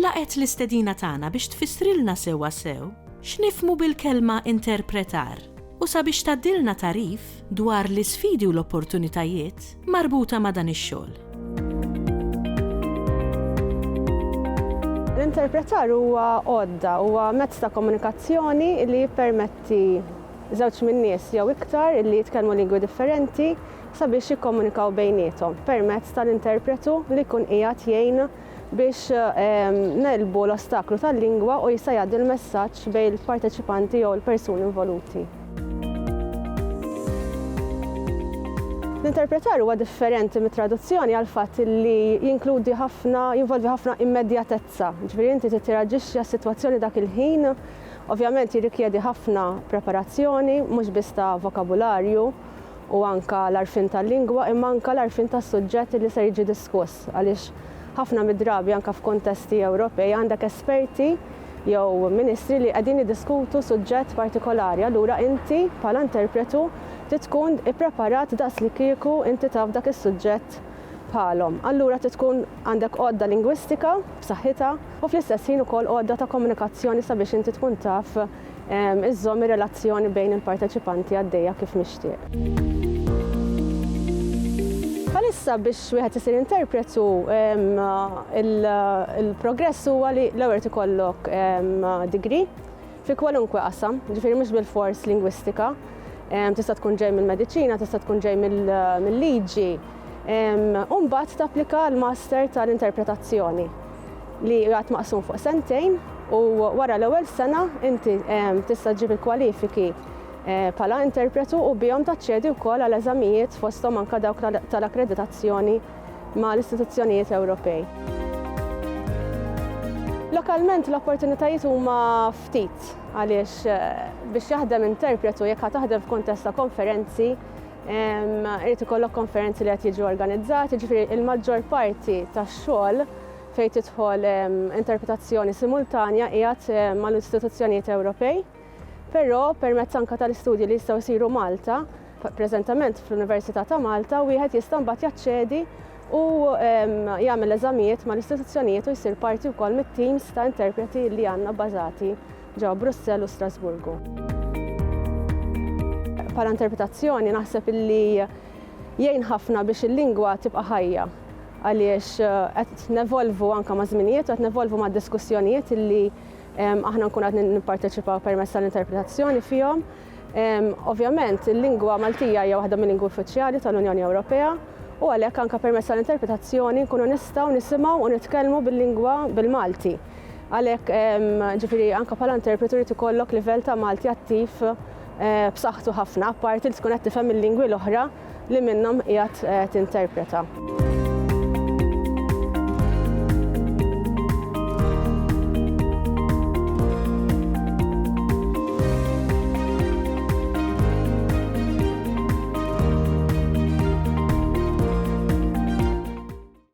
Laqgħet l-istedina tagħna biex tfissrilna sewwasew x'nifhmu bil-kelma interpretar u sabiex tgħaddilna tagħrif dwar l-isfidi u l-opportunitajiet marbuta ma' dan ix-xogħol. L-interpretar huwa għodda, huwa mezz ta' komunikazzjoni li jippermetti żewġ min-nies jew iktar li jitkellmu lingwi differenti sabiex jikkomunikaw bejniethom permezz tal-interpretu li jkun qiegħed jgħin biex negħlbu l-ostaklu tal-lingwa u jista' jgħaddi l-messaġġ bejn il-parteċipanti jew il-persuni involuti. L-interpretar huwa differenti mit-traduzzjoni għall-fatt li jinkludi ħafna, jinvolvi ħafna immedjatezza, ġifieri inti trid tirraġixxi għas-sitwazzjoni dak il-ħin, ovvjament jirrikjedi ħafna preparazzjoni mhux biss ta' vokabularju u anke l-għarfien tal-lingwa imma anke l-għarfien tas-suġġett li ser jiġi diskuss. għaliex ħafna mid-drabi anke f'kuntesti Ewropej għandek esperti jew ministri li qegħdin jiddiskutu suġġett partikolari, allura inti bħala interpretu trid tkun ippreparat daqslikieku inti taf dak is-suġġett bħalhom. Allura trid tkun għandek għodda lingwistika b'saħħitha u fl-istess ħin ukoll għodda ta' komunikazzjoni sabiex inti tkun taf iżżomm ir-relazzjoni bejn il-parteċipanti għaddejja kif mixtieq. Bħalissa biex wieħed isir interpret u l-progress huwa li l-ewwel irid ikollok degree fi kwalunkwe qasam, ġifieri mhux bilfors lingwistika, tista' tkun ġej mill-mediċina, tista' tkun ġej mill-liġi, u mbagħad tapplika għall-master tal-interpretazzjoni. li jingħad maqsum fuq sentejn u wara l-ewwel sena inti ehm, tista' ġġib il-kwalifiki eh, bħala interpretu u bihom taċċedi wkoll għal eżamijiet fosthom anke dawk tal-akkreditazzjoni ma' l-istituzzjonijiet Ewropej. Lokalment l-opportunitajiet huma ftit għaliex eh, biex jaħdem interpretu jekk taħdem f'kuntest ta' konferenzi Irid ikollok konferenzi li qed jiġu organizzati, jiġifieri il-maġġor parti tax-xogħol fejn tidħol interpretazzjoni simultanja qiegħed mal-istituzzjonijiet Ewropej, però permezz anke tal-istudji li jistgħu jsiru Malta, preżentament fl-Università ta' Malta, wieħed jista' mbagħad jaċċedi u jagħmel eżamijiet mal-istituzzjonijiet u jsir parti wkoll mit-teams ta' interpreti li għandna bbażati ġewwa Brussell u Strasburgu. Bħala interpretazzjoni naħseb illi jgħin ħafna biex il-lingwa tibqa' ħajja għaliex qed nevolvu anke maż-żminijiet u qed nevolvu mad-diskussjonijiet illi aħna nkun qed nipparteċipaw permezz tal-interpretazzjoni fihom. Ovvjament il-lingwa Maltija hija waħda mill-lingwi uffiċjali tal-Unjoni Ewropea u għalhekk anke permezz tal-interpretazzjoni nkunu nistgħu nisimgħu u nitkellmu bil-lingwa bil-Malti. Għalhekk, ġifieri anke bħala interpretu jrid ikollok livell ta' Malti attiv eh, b'saħħtu ħafna, apparti li tkun qed tifhem il-lingwi l-oħra li minnhom qiegħed eh, tinterpreta.